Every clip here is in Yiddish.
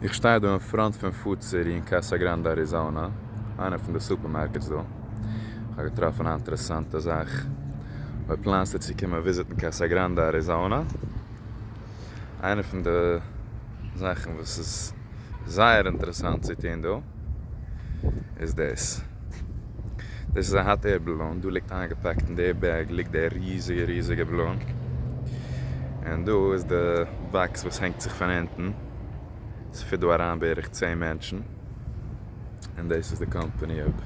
איך שטיי דא אין פראנט פון פוד סיטי אין קאסא גראנדע אריזאנא, איינע פון די סופערמארקעטס דא. איך האב געטראפן א אינטערעסאנטע זאך. אויב פלאנסטו צו קומען וויזיטן קאסא גראנדע אריזאנא, איינע פון די זאכן וואס איז זייער אינטערעסאנט צו טון דא איז דאס. דאס איז א האט עיר באלון, דא ליגט איינגעפאקט אין די בעג ליגט די ריזיגע ריזיגע באלון, און דא איז די באקס וואס הענגט זיך פון אונטן, עס פיט דא אריין בערך צען מענטשן, און דאס איז די קאמפאני אויב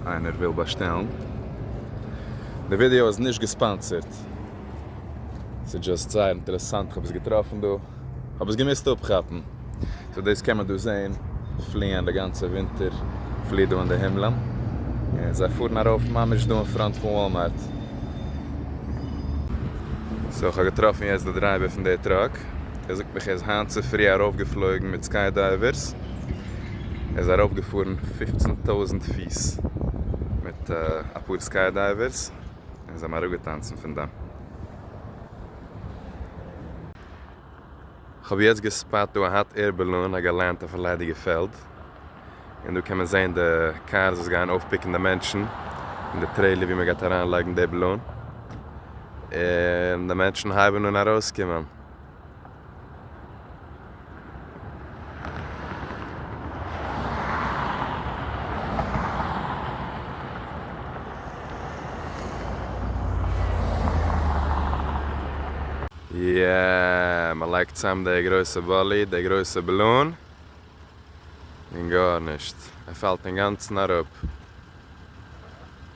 איינער וויל באשטעלן. די ווידיאו איז נישט געספאנסערט, ס'איז דזשאסט זייער אינטערעסאנט, כ'האב עס געטראפן דא. האב עס געמוזט אפכאפן. סאו דאס קען מען דא זעהן פליען די גאנצע ווינטער פלי דא אין די הימלען און זיי פארן ארויף ממש דא אין פראנט פון וואלמארט. סאו איך האב געטראפן יעצט די דרייווער פון די טראק ער זאגט מיך ער איז היינט צופרי ארויף געפלויגן מיט סקיי דייווערס ער איז ארויף געפארן פֿופֿצן טויזענט פיס מיט אפאר סקיי דייווערס און זיי האבן אראפגעטאנצן פון דעם. כ'האב יעצט געספאט דא א האט עיר בעלאון א געלענד אויפן ליידיגע פעלד, און דא קען מען זעהן די קארס וואס גייען אויפפיקן די מענטשן אין די טרעילער ווי מ'גייט אריינלייגן די בעלאון, און די מענטשן הייבן אן ארויסקומען. יעע, מען לייגט צאם די גרויסע באלי, די גרויסע בלון, און גארנישט, ער פאלט אינגאנצן אראפ.